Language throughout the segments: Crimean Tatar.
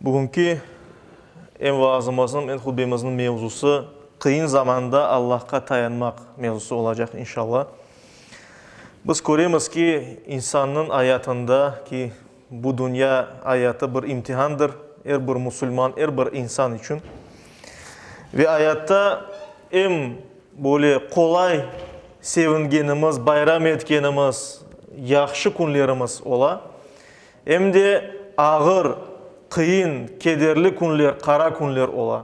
Bugünki em vaazımızniñ, em hutbemizniñ mevzusı, qıyın zamanda Allahqa tayanmaq mevzusı olacaq, inşalla. Biz köremiz ki, insannıñ ayatında, ki bu dünya ayatı bir imtihandır er bir musulman, er bir insan içün. Ve ayatta em böyle qolay sevingenimiz, bayram etkenimiz yahşı künlerimiz ola. Em de ağır, qıyın, kederli künler, qara künler ola.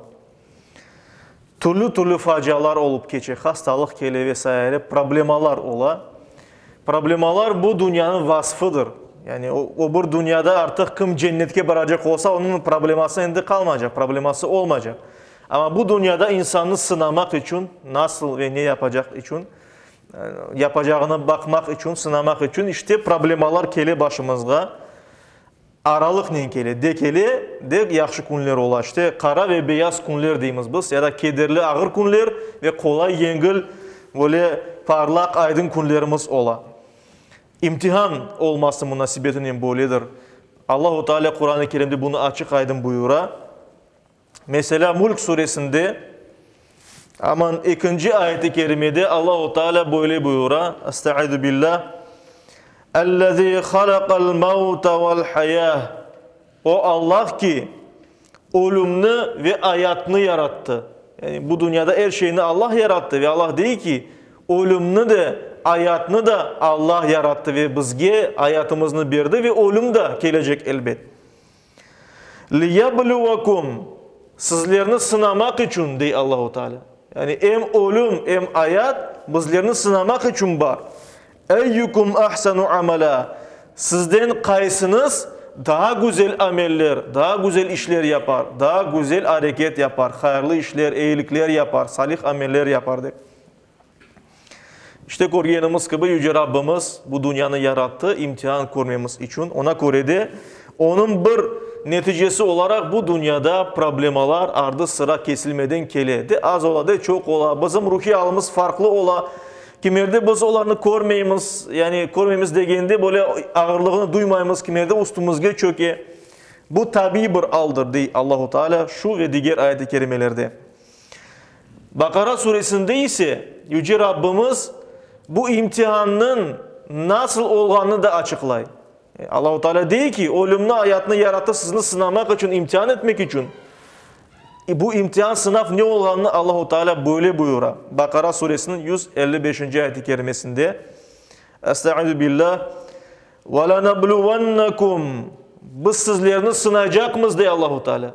Türlü-türlü facialar olıp keçe, hastalıq kele ve saire, problemalar ola. Problemalar bu dünyanıñ vasfıdır. Yani öbür dünyada artıq kim cennetke baracaq olsa, onıñ probleması endi qalmaycaq, probleması olmaycaq. Amma bu dünyada insannı sınamaq içün, nasıl ve ne yapacaq içün Yapacağına baqmaq içün, sınamaq içün işte problemalar kele başımızğa. Aralıqnen kele, de kele, de yahşı künler ola. İşte qara ve beyaz künler deymiz biz, ya da kederli, ağır künler ve qolay, yengil, böyle parlaq, aydın künlerimiz ola. İmtihan olması munasebetinen böyledir. Allahu Teala Quran-ı Kerimde bunı açıq-aydın buyura. Meselâ, Mulk suresinde aman ekinci ayet-i kerimede Allahu Teala böyle buyura, Estaizu billâ, Ellezî halaqal mevte vel hayâh, O Allah ki, ölümni ve ayatnı yarattı. Yani bu dünyada er şeyni Allah yarattı ve Allah dey ki, ölümni de, ayatnı da Allah yarattı ve bizge ayatımıznı berdi ve ölüm de kelecek elbet. Liyablüvakum, sizlerni sınamaq içün, dey Allahu Teala. Yani em ölüm, em ayat bizlerni sınamaq içün bar. Eyyukum ahsanu amala, sizden qaysınız daa güzel ameller, daa güzel işler yapar, daa güzel areket yapar, hayırlı işler, eyilikler yapar, salih ameller yapar, dep. İşte, körgenimiz kibi, Yüce Rabbimiz bu dünyanı yarattı, imtihan körmemiz içün. Oña köre de, onıñ bir neticesi olaraq bu dünyada problemalar ardı-sıra kesilmeden kele. De az ola, de çoq ola, bizim ruhiy alimiz farqlı ola. Kimerde biz olarnı körmeymiz, yani körmeymiz degende, böyle ağırlığını duymaymız, kimerde üstümizge çöke. Bu tabiiy bir aldır, dey Allahu Teala şu ve diger ayet-i kerimelerde. Baqara suresinde ise Yüce Rabbimiz bu imtihannıñ nasıl olğanını da açıqlay. Allahu Teala dey ki, ölümni, ayatnı yarattı sizni sınamaq içün, imtihan etmek içün. Bu imtihan, sınav ne olğanını Allahu Teala böyle buyura, Baqara suresiniñ yüz elli beşinci ayet-i kerimesinde, Estaizu billah, Ve lenebluvennekum Biz sizlerni sınaycaqmız, dey Allahu Teala.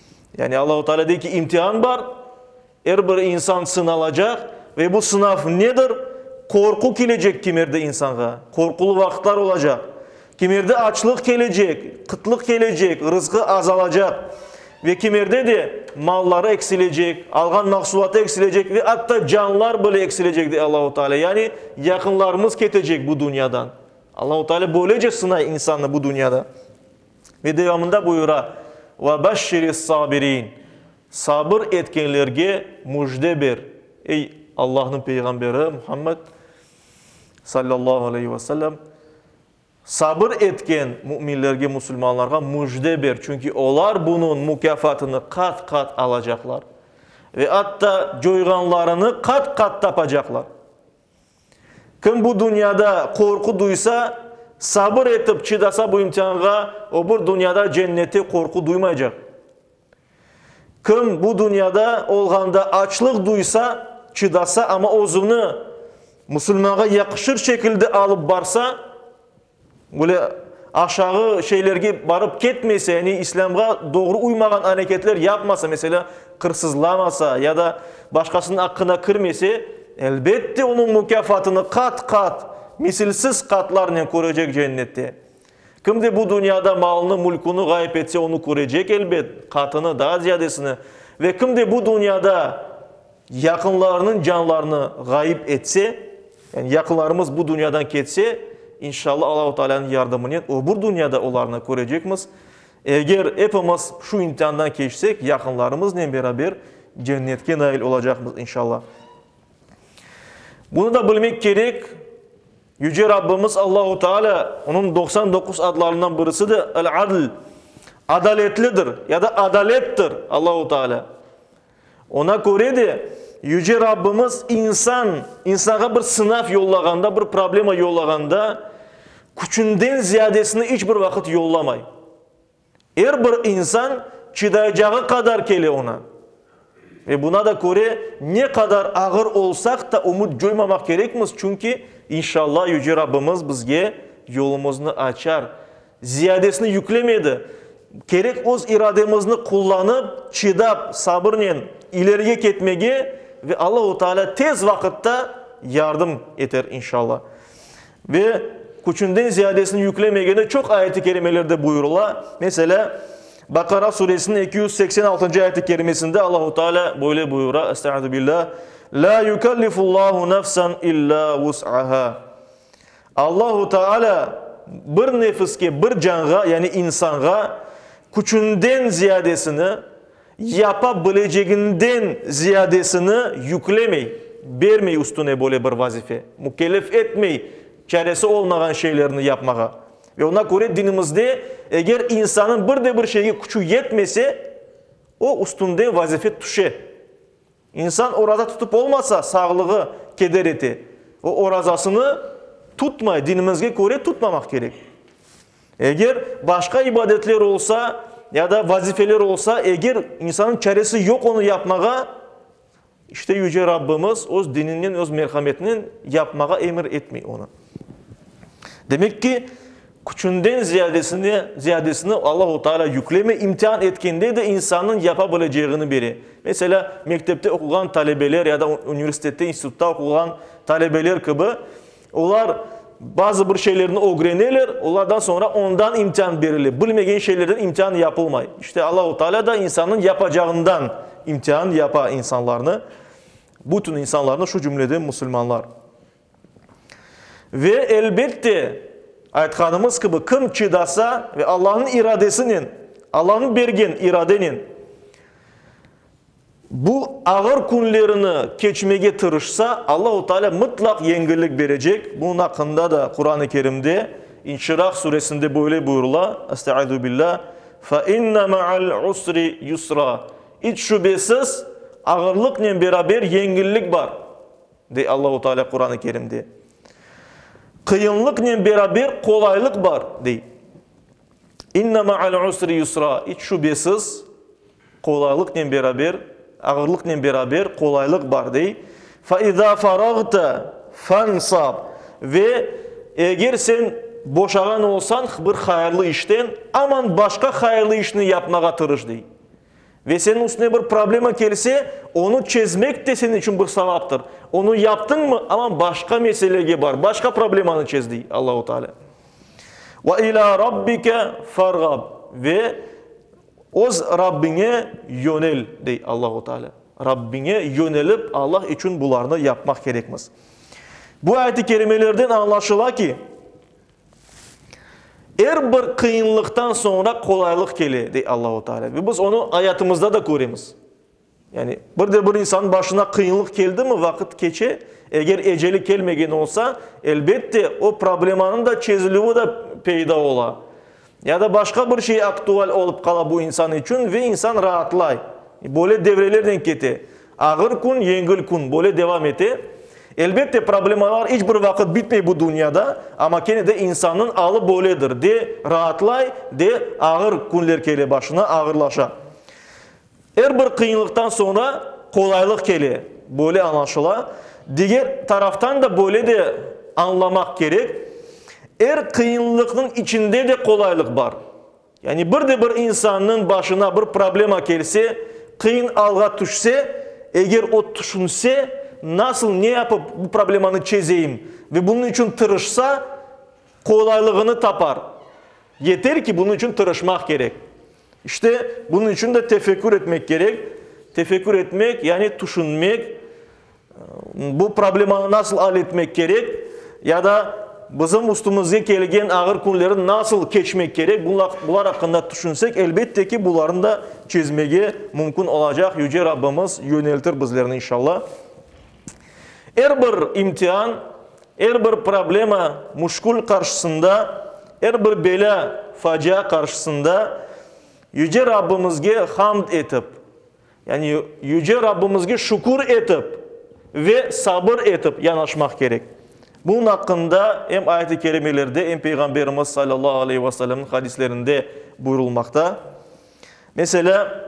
Yani Allahu Teala dey ki, imtihan bar, er bir insan sınalacaq ve bu sınav nedir? Qorqu kelecek kimerde insanğa, qorqulu vaqıtlar olacaq. Kimerde açlıq kelecek, qıtlıq kelecek, rızqı azalacaq. Ve kimerde de malları eksilecek, alğan mahsulatı eksilecek ve atta canlar bile eksilecek dey Allahu Teala. Yani yaqınlarımız ketecek bu dünyadan. Allahu Teala böylece sınay insannı bu dünyada. Ve devamında buyura, Ve beşşiris-sabirin, sabır etkenlerge müjde ber, ey Allahnıñ Peygamberi Muhammed, sallallahu aleyhi ve sellem, sabır etken müminlerge, musulmanlarğa müjde ber, çünki olar bunıñ mukâfatını qat-qat alacaqlar ve atta coyğanlarını qat-qat tapacaqlar. Kim bu dünyada qorqu duysa, sabır etip çıdasa bu imtihanğa, öbür dünyada cennette qorqu duymaycaq. Kim bu dünyada olğanda açlıq duysa, çıdasa, amma özüni musulmanğa yaqışır şekilde alıp barsa, Böyle aşağı şeylerge barıp ketmese, yani İslâmğa doğru uymağan areketler yapmasa, meselâ, qırsızlamasa ya da başqasınıñ aqqına kirmese, elbette, onıñ mukâfatını qat-qat, misilsiz qatlarnen körecek Cennette. Kim de bu dünyada malını, mülkünü ğayıp etse, onı körecek, elbet, qatını, daa ziyadesini. Ve kim de bu dünyada Yaqınlarınıñ canlarını ğayıp etse, yani yaqınlarımız bu dünyadan ketse, inşalla Allahu Taalânıñ yardımınen öbür dünyada olarnı körecekmiz. Eger epimiz şu imtihandan keçsek, yaqınlarımıznen beraber Cennetke nail olacaqmız, inşalla. Bunı da bilmek kerek, Yüce Rabbimiz Allahu Taalâ, Onıñ doqsan doquz adlarından birisi de El-Adl, Adaletlidir ya da Adalettir Allahu Taalâ. Oña köre de, Yüce Rabbimiz insan, insanğa bir sınav yollağanda, bir problema yollağanda, küçünden ziyadesini iç bir vaqıt yollamay. Er bir insan çıdaycağı qadar kele oña. Ve buña da köre, ne qadar ağır olsaq ta, ümüt coymamaq kerekmiz, çünki, inşalla, Yüce Rabbimiz bizge yolumıznı açar. Ziyadesini yüklemedi. Kerek öz irademizni qullanıp, çidap, sabırnen ilerige ketmege ve Allahu Teala tez vaqıtta yardım eter, inşallah. Ve küçünden ziyadesini yüklemegeni çoq ayet-i kerimelerde buyurıla. Meselâ, Bakara suresiniñ eki yüz seksen altıncı ayet-i kerimesinde Allahu Teala böyle buyura, Estaizubillah, La yükellifullahu nefsen illa vus'aha. Allahu Taala bir nefiske, bir canğa, yani insanğa küçünden ziyadesini, yapa bileceginden ziyadesini yüklemey, bermey üstüne böyle bir vazife, mükellef etmey çaresi olmağan şeylerni yapmağa. Ve oña köre dinimizde eger insannıñ bir de bir şeyge küçü yetmese, o üstünden vazife tüşe. İnsan oraza tutıp olmasa, sağlığı keder ete. O orazasını tutmay, dinimizge köre tutmamaq kerek. Eger başqa ibadetler olsa ya da vazifeler olsa, eger insanıñ çaresi yoq onı yapmağa, işte Yüce Rabbimiz öz dininen, öz merhametinen yapmağa emir etmey onı. Demek ki, Küçünden ziyadesine, ziyadesini Allahu Teala yükleme, imtihan etkende de insannıñ yapa bileceğini bere. Meselâ, mektepte oquğan talebeler ya da universitette, institutta oquğan talebeler kibi, olar bazı bir şeylerni ögreneler, olardan soñra ondan imtihan berile, bilmegen şeylerden imtihan yapılmay. İşte, Allahu Teala da insannıñ yapacağından imtihan yapa insanlarnı, bütün insanlarnı, şu cümleden musulmanlar. Ve, elbette, aytqanımız kibi, kim çidasa ve Allanıñ iradesinen, Allanıñ bergen iradenen bu ağır künlerini keçmege tırışsa, Allahu Teala mıtlaq yengillik berecek. Bunıñ aqqında da Quran-ı Kerimde, İnşirah suresinde böyle buyurula, Estaizu billah, Fe inne ma'al usri yusra, İç şübesiz, ağırlıqnen beraber yengillik bar. Dey Allahu Teala Quran-ı Kerimde. Qıyınlıqnen beraber qolaylıq bar, dey. İnne ma'al usri yusra, iç şübesiz, qolaylıqnen beraber, ağırlıqnen beraber qolaylıq bar, dey. Fe iza faragta fansab, ve eger sen boşağan olsañ bir hayırlı işten, aman başqa hayırlı işni yapmağa tırış, dey. Ve seniñ üstüne bir problema kelse, onı çezmek te seniñ içün bir savaptır. Onı yaptıñmı, aman başqa meselege bar, başqa problemanı çez, dey Allahu Teala. Ve ilâ Rabbike ferğab. Ve öz Rabbiñe yönel, dey Allahu Teala. Rabbiñe yönelip, Allah içün bularnı yapmaq kerekmiz. Bu ayet-i kerimelerden añlaşıla ki, Er bir qıyınlıqtan soñra qolaylıq kele, dey Allahu Taalâ. Ve biz onı ayatımızda da köremiz. Yani bir de bir insannıñ başına qıyınlıq keldimi, vaqıt keçe, eger eceli kelmegen olsa, elbette, o problemanıñ da çezilüvi da peyda ola. Ya da başqa bir şey aktual olıp qala bu insan içün ve insan raatlay. Böyle devrelernen kete. Ağır kün, yengil kün, böyle devam ete. Elbette, problemalar iç bir vaqıt bitmey bu dünyada, amma kene de insannıñ alı böyledir, de raatlay, de ağır künler kele başına, ağırlaşa. Er bir qıyınlıqtan soñra qolaylıq kele, böyle añlaşıla. Diger taraftan da böyle de añlamaq kerek, er qıyınlıqnıñ içinde de qolaylıq bar. Yani bir de bir insannıñ başına bir problema kelse, qıyın alğa tüşse, eger o tüşünse, nasıl, ne yapıp bu problemanı çezeyim, ve bunıñ içün tırışsa, qolaylığını tapar. Yeter ki, bunıñ içün tırışmaq kerek. İşte, bunıñ içün de tefekkür etmek kerek. Tefekkür etmek, yani tüşünmek, bu problemanı nasıl al etmek kerek, ya da bizim üstümizge kelgen ağır künleri nasıl keçmek kerek, bular aqqında tüşünsek, elbette ki, bularnı da çezmege mümkün olacaq. Yüce Rabbimiz yöneltir bizlerni, inşallah. Er bir imtian, er bir problema, muşkül qarşısında, er bir belâ, facia qarşısında Yüce Rabbimizge hamd etip, yani Yüce Rabbimizge şükür etip ve sabır etip yanaşmaq kerek. Bunıñ aqqında em ayet-i kerimelerde, em Peyğamberimiz salâllahu aleyhi ve sellemniñ hadislerinde buyurulmaqta. Meselâ.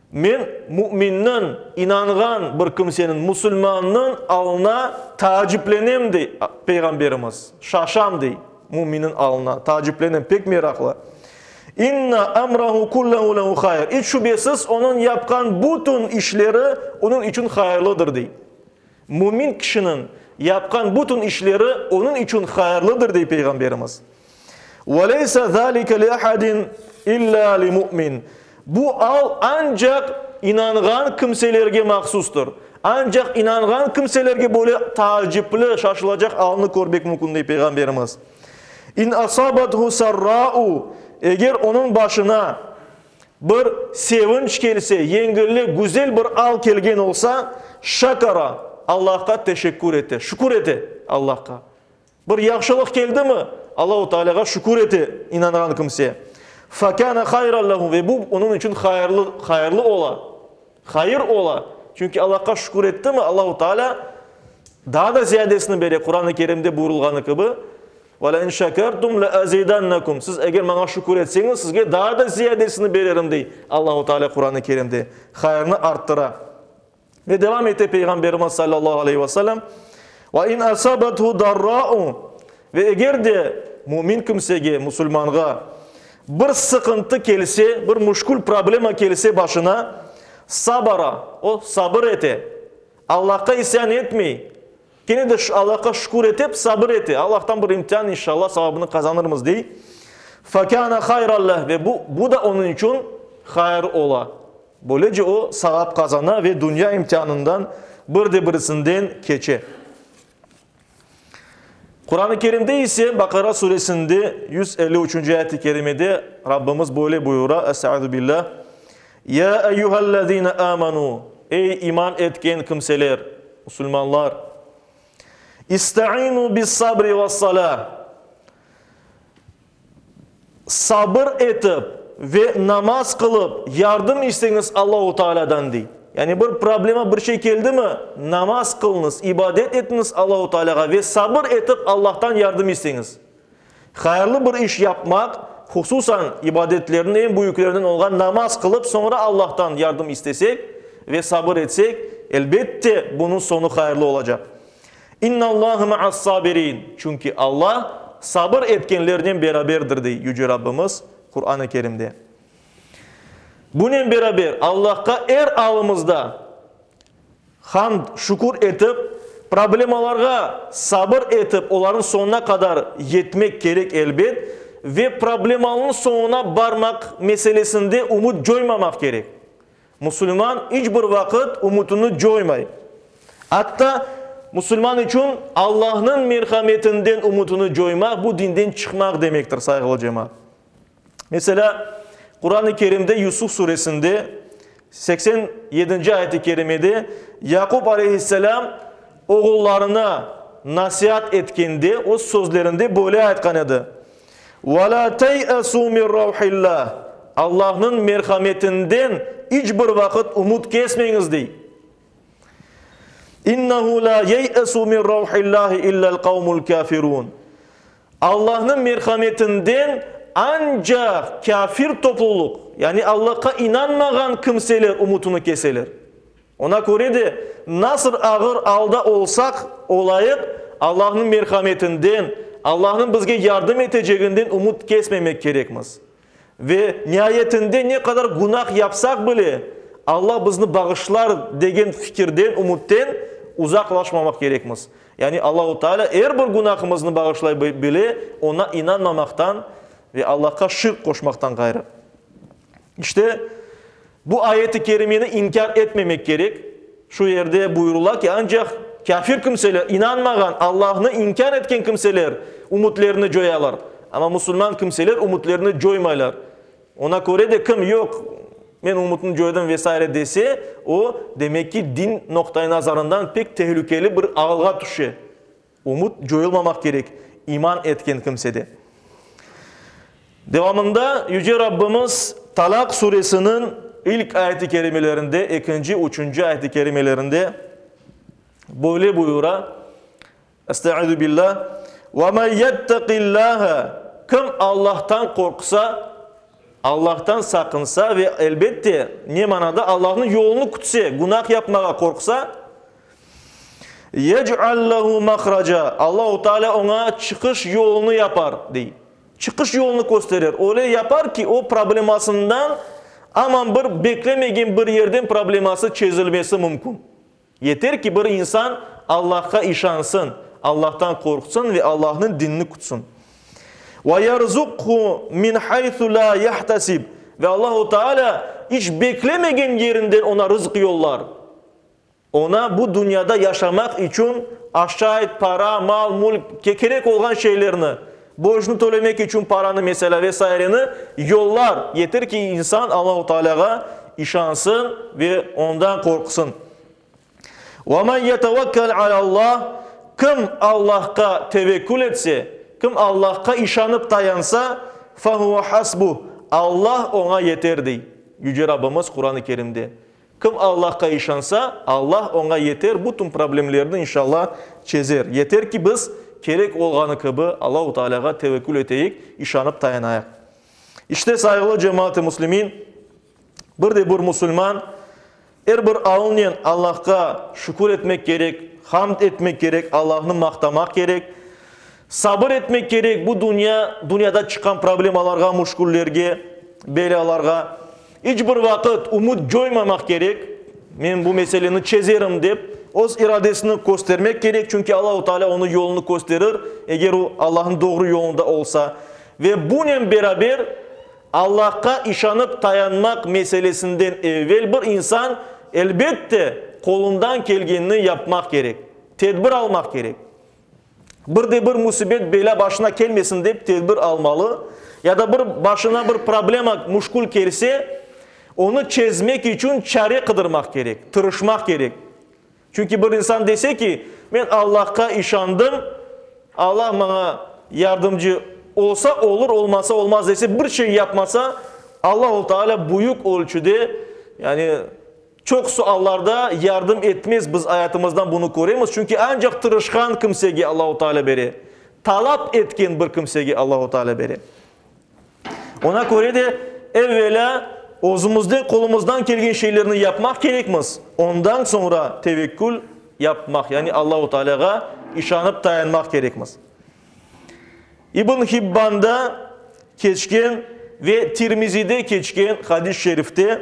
Men müminniñ, inanğan bir kimseniñ, musulmannıñ alına taaciplenem, dey Peyğamberimiz, şaşam, dey, müminniñ alına taaciplenem, pek meraqlı. İnna emrahu kullahu lehu hayr, iç şübesiz, onıñ yapqan bütün işleri onıñ içün hayırlıdır, dey. Mümin kişiniñ yapqan bütün işleri onıñ içün hayırlıdır, dey Peyğamberimiz. Ve leyse zâlike li ahadin illâ li mü'min. Bu al ancaq inanğan kimselerge mahsustur. Ancaq inanğan kimselerge böyle taacipli, şaşılacaq alnı körmek mümkün, dey Peyğamberimiz. İn asabathu sarrâ'u, eger onıñ başına, Bir sevinç kelse, yengillik, güzel bir al kelgen olsa, şakara, Allahqa teşekkür ete, şükür ete Allahqa. Bir yahşılıq keldimi, Allahu Tealâğa şükür ete inanğan kimse. Fe kâne hayran lehu, ve bu, onıñ içün hayırlı, hayırlı ola. Hayır ola, çünki Allahqa şükür ettimi, Allahu Teala daa da ziyadesini bere, Quran-ı Kerimde buyurılğanı kibi, Ve le in şekertum le azidannekum, siz eger maña şükür etseñiz, sizge daa da ziyadesini bererim, dey Allahu Teala Quran-ı Kerimde, hayırnı arttıra. Ve devam ete Peyğamberimiz sallallahu aleyhi ve sellem, Ve in asabethu darra'u, ve eger de mümin kimsege, musulmanğa, Bir sıqıntı kelse, bir müşkül problema kelse başına, sabara, o, sabır ete, Allahqa isyan etmey, kene de Allahqa şükür etep, sabır ete, Allahtan bir imtian, inşallah, savabını qazanırmız, dey. Fekâne hayran leh, ve bu, bu da onıñ içün hayır ola. Böylece o, savap qazana ve dünya imtianından bir de birisinden keçe. Quran-ı Kerimde ise, Baqara suresinde yüz elli üçünci ayet-i kerimede Rabbimiz böyle buyura, Estağuzubillah, Ya eyyuhellezine amenu, ey iman etken kimseler, musulmanlar, istainu bis-sabri ves-salah, Sabır etip ve namaz qılıp yardım isteñiz Allahu Taalâdan, dey. Yani bir problema, bir şey keldimi, namaz qılıñız, ibadet etiñiz Allahu Taalâğa ve sabır etip Allahtan yardım isteñiz. Hayırlı bir iş yapmaq, hususan ibadetlerniñ eñ büyüklerinden olğan namaz qılıp soñra Allahtan yardım istesek ve sabır etsek, elbette bunıñ soñu hayırlı olacaq. İnnallâhe ma'as-sabirin, çünki Alla sabır etkenlernen beraberdir, dey Yüce Rabbimiz Quran-ı Kerimde. Bunen beraber, Allahqa er alımızda hamd, şükür etip, problemalarğa sabır etip, olarnıñ soñuna qadar yetmek kerek, elbet, ve problemalnıñ soñuna barmaq meselesinde ümüt coymamaq kerek. Musulman iç bir vaqıt ümütini coymay. Atta, musulman içün Allahnıñ merhametinden ümütini coymaq, bu dinden çıqmaq demektir, sayğılı cemaat. Meselâ, Quran-ı Kerimde Yusuf suresinde seksen yedinci ayet-i kerimede Yaqub aleyhisselâm oğullarına nasiat etkende öz sözlerinde böyle aytqan edi, Ve la tey'esu min ravhilla, Allahnıñ merhametinden iç bir vaqıt umut kesmeñiz, dey. İnnehu la yey'esu min ravhillahi illel qavmul kâfirun. Allahnıñ merhametinden ancaq kâfir topluluq, yani Allahqa inanmağan kimseler umutını keseler. Oña köre de, nasıl ağır alda olsaq olayıq, Allahnıñ merhametinden, Allahnıñ bizge yardım eteceginden ümüt kesmemek kerekmiz. Ve, niayetinde, ne qadar günah yapsaq bile, Alla bizni bağışlar, degen fikirden, ümütten uzaqlaşmamaq kerekmiz. Yani Allahu Teala er bir günahımıznı bağışlay bile, Oña inanmamaqtan ve Allahqa şirk qoşmaqtan ğayrı. İşte, bu ayet-i kerimeni inkâr etmemek kerek. Şu yerde buyurula ki, ancaq kâfir kimseler, inanmağan, Allahnı inkâr etken kimseler ümütlerini coyalar. Amma musulman kimseler ümütlerini coymaylar. Ona köre de kim, yoq, men ümütni coydım ve saire dese, o, demek ki, din noqtaiy nazarından pek tehlükeli bir ağılğa tüşe. Ümüt coyulmamaq kerek iman etken kimsede. Devamında Yüce Rabbimiz Talaq suresiniñ ilk ayet-i kerimelerinde, ekinci, üçünci ayet-i kerimelerinde böyle buyura, Estaizu Billa, Ve men yettaqillâhe, Kim Allahtan qorqsa, Allahtan saqınsa ve, elbette, ne manada, Allahniñ yolunı kütse, günah yapmağa qorqsa, Yec'al lehu mahraca, Allahu Teala oña çıqış yolunı yapar, dey. Çıqış yolunı kösterer. Öyle yapar ki, o problemasından aman bir beklemegen bir yerden probleması çezilmesi mümkün. Yeter ki, bir insan Allahqa işansın, Allahtan qorqsın ve Allahnıñ dinini kütsün. Ve yerzuqhu min haythu la yahtasib, ve Allahu Teala iç beklemegen yerinden oña rızq yollar. Oña bu dünyada yaşamaq içün aşayt, para, mal, mülk, kerek olğan şeylerni, borcnı tölemek içün paranı, meselâ, ve saireni yollar, yeter ki, insan Allahu Taalâğa işansın ve Ondan qorqsın. Ve men yetevekkel alâllah, kim Allahqa tevekkül etse, kim Allahqa işanıp tayansa, fe huve hasbuh, Allah oña yeter, dey Yüce Rabbimiz Quran-ı Kerimde. Kim Allahqa işansa, Allah oña yeter bütün problemlerini inşalla çezer. Yeter ki biz kerek olğanı kibi Allahu Taalâğa tevekkül eteyik, işanıp tayanayıq. İşte, sayğılı cemaat-ı muslimin, bir de bir musulman er bir alnen Allahqa şükür etmek kerek, hamd etmek kerek, Allahnı maqtamaq kerek, sabır etmek kerek bu dünya, dünyada çıqqan problemalarğa, muşküllerge, belâlarğa. İç bir vaqıt ümüt coymamaq kerek, men bu meseleni çezerim dep, öz iradesini köstermek kerek, çünki Allahu Taalâ onı yolunu kösterir, eger o Allahnıñ doğru yolunda olsa. Ve bunen beraber, Allahqa işanıp tayanmaq meselesinden evel bir insan, elbette, qolundan kelgenini yapmaq kerek, tedbir almaq kerek. Bir de bir musibet belâ başına kelmesin dep tedbir almalı, ya da bir başına bir problema, muşkul kelse, onı çezmek içün çare qıdırmaq kerek, tırışmaq kerek. Çünki bir insan dese ki, men Allahqa işandım, Allah maña yardımcı olsa olur, olmasa olmaz dese, bir şey yapmasa, Allah-u Teala büyük ölçüde, yani, Çoq suallarda yardım etmez, biz ayatımızdan bunı köremiz, çünki ancaq tırışqan kimsege Allahu Teala bere, talap etken bir kimsege Allahu Teala bere. Oña köre de, evvelâ özümizde qolumızdan kelgen şeylerni yapmaq kerekmiz, ondan soñra tevekkül yapmaq, yani Allahu Tealâğa işanıp tayanmaq kerekmiz. İbn Hibbanda keçken ve Tirmizide keçken hadis-şerifte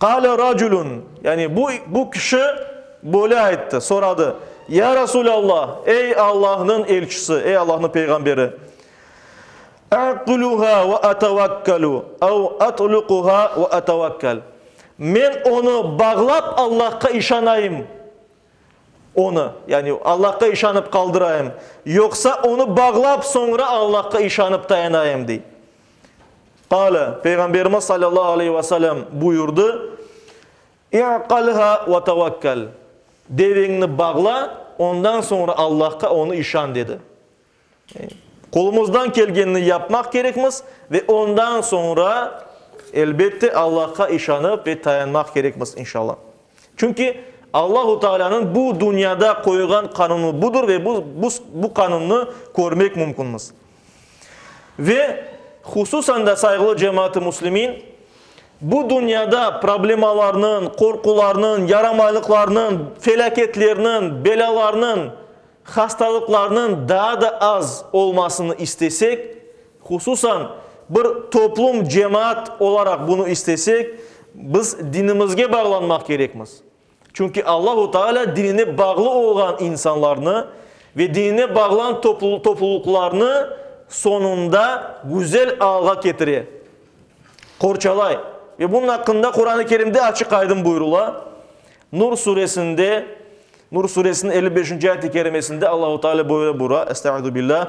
Qâle racülün, yani bu, bu kişi böyle ayttı, soradı, Ya Rasûlallah, ey Allahnıñ elçisi, ey Allahnıñ peyğamberi, Aq'luha ve atevekkelû ev at'luquha ve atevekkel, Men onı bağlap Allahqa işanayım, Onı, yani Allahqa işanıp qaldırayım, yoqsa onı bağlap, soñra Allahqa işanıp tayanayım, dey. Qâle, Peyğamberimiz salâllahu aleyhi ve selem buyurdı, İ'qalha ve tevekkel, deveñni bağla, ondan soñra Allahqa, onı işan, dedi. Qolumızdan kelgenini yapmaq kerekmiz ve ondan soñra, elbette, Allahqa işanıp ve tayanmaq kerekmiz, inşalla. Çünki Allahu Taalânıñ bu dünyada qoyğan qanunı budur ve bu bu bu qanunnı körmek mümkünmiz. Ve hususan da, sayğılı cemaat-ı muslimin, bu dünyada problemalarnıñ, qorqularnıñ, yaramaylıqlarnıñ, felâketlerniñ, belâlarnıñ Hastalıqlarnıñ daa da az olmasını istesek, hususan bir toplum, cemaat olaraq bunı istesek, biz dinimizge bağlanmaq kerekmiz. Çünki Allahu Taalâ dinine bağlı olğan insanlarnı ve dinine bağlan toplulıqlarnı soñunda güzel alğa ketire, qorçalay. Ve bunun aqqında Quran-ı Kerimde açıq-aydın buyurula, Nur suresinde Nur suresiniñ elli beşinci ayet-i kerimesinde Allahu Teala böyle buyura, Estaizu billâh,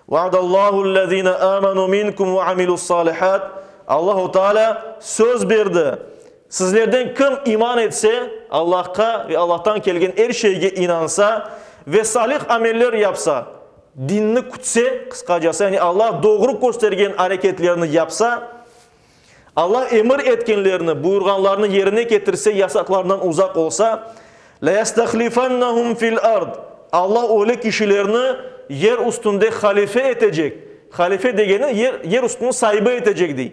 Vaadallâhu'l-lezîne âmenû minkum ve amilu's-sâlihât, Allahu Teala söz berdi, Sizlerden kim iman etse, Allahqa ve Allahtan kelgen er şeyge inansa ve salih ameller yapsa, dinni kütse, qısqacası, yani Allah doğru köstergen areketlerni yapsa, Alla emir etkenlerini, buyurğanlarını yerine ketirse, yasaqlarından uzaq olsa, Leyastahlifannahum fil ard, Alla öyle kişilerni yer üstünde halife etecek, halife degeni yer, yer üstünün saibi etecek dey.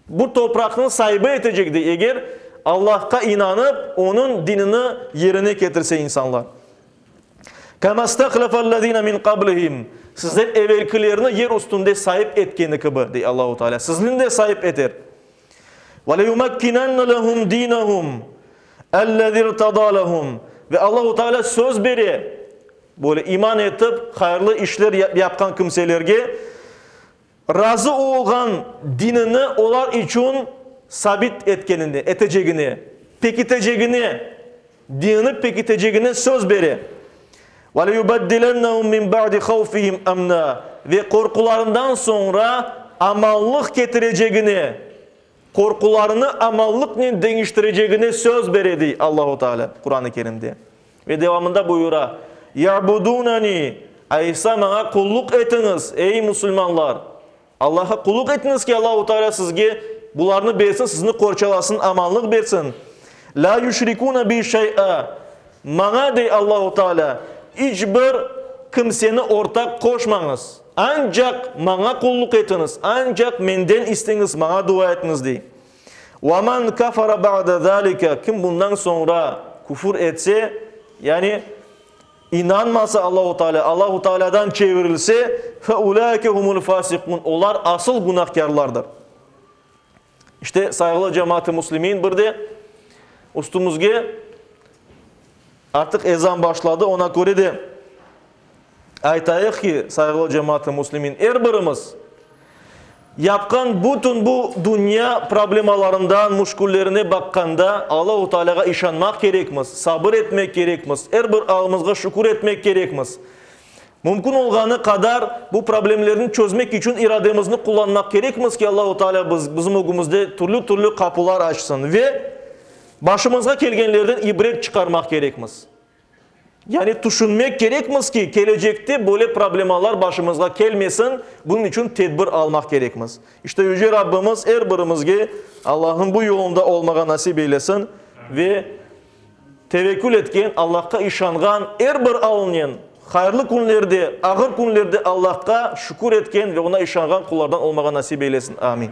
Bu topraqnıñ saibi etecek dey, eger Allahqa inanıp, Onıñ dinini yerine ketirse insanlar. Kâmâ stâhlefellezîne min qablihim, Sizden evelkilerni yer üstünde saip etkeni kibi, dey Allahu Teala, sizni de saip eter. Ve leyumakkinenne lehum dinehum ellezî irtedâ lehum, Ve Allahu Teala söz bere, böyle iman etip, hayırlı işler yapqan kimselerge, Razı olğan dinini olar içün sabit etkenine, etecegine, pekitecegine, dinini pekitecegine söz bere. Veleyubeddilennehum min ba'di havfihim emna, ve qorqularından soñra amallıq ketirecegine, qorqularını amallıqnen deñiştirecegine söz bere, dey Allahu Teala Quran-ı Kerimde. Ve devamında buyura, İ'budûneni, aysa Maña qulluq etiñiz, ey, musulmanlar! Allah'a qulluq etiñiz ki, Allahu Teala sizge bularnı bersin, sizni qorçalasın, amanlıq bersin. Lâ yüşrikûne bi şey'a, Maña, dey Allahu Teala, iç bir kimseni ortaq qoşmañız, ancaq Maña qulluq etiñiz, ancaq Menden isteñiz, Maña dua etiñiz, dey. Ve men kafara ba'de zâlike, kim bundan soñra küfür etse, yani inanmasa Allahu Tealâ, Allahu Tealâdan çevirilse, fe ulâike humul fâsikûn, olar asıl günahkârlardır. İşte, sayğılı cemaat-ı muslimin, bir de üstümizge, Artıq ezan başladı, oña köre de aytayıq ki, sayğılı cemaat-ı muslimin, er birimiz yapqan bütün bu dünya problemalarından, müşküllerine baqqanda, Allahu Taalâğa işanmaq kerekmiz, sabır etmek kerekmiz, er bir alımızğa şükür etmek kerekmiz. Mümkün olğanı qadar bu problemlerni çözmek içün irademizni qullanmaq kerekmiz ki, Allahu Taalâ bizim ögümizde türlü-türlü qapular açsın ve Başımızğa kelgenlerden ibret çıqarmaq kerekmiz. Yani tüşünmek kerekmiz ki, kelecekte böyle problemalar başımızğa kelmesin, bunıñ içün tedbir almaq kerekmiz. İşte Yüce Rabbimiz er birimizge Allahnıñ bu yolunda olmağa nasip eylesin ve tevekkül etken, Allahqa işanğan er bir alınen hayırlı künlerde, ağır künlerde Allahqa şükür etken ve Oña işanğan qullardan olmağa nasip eylesin. Amin.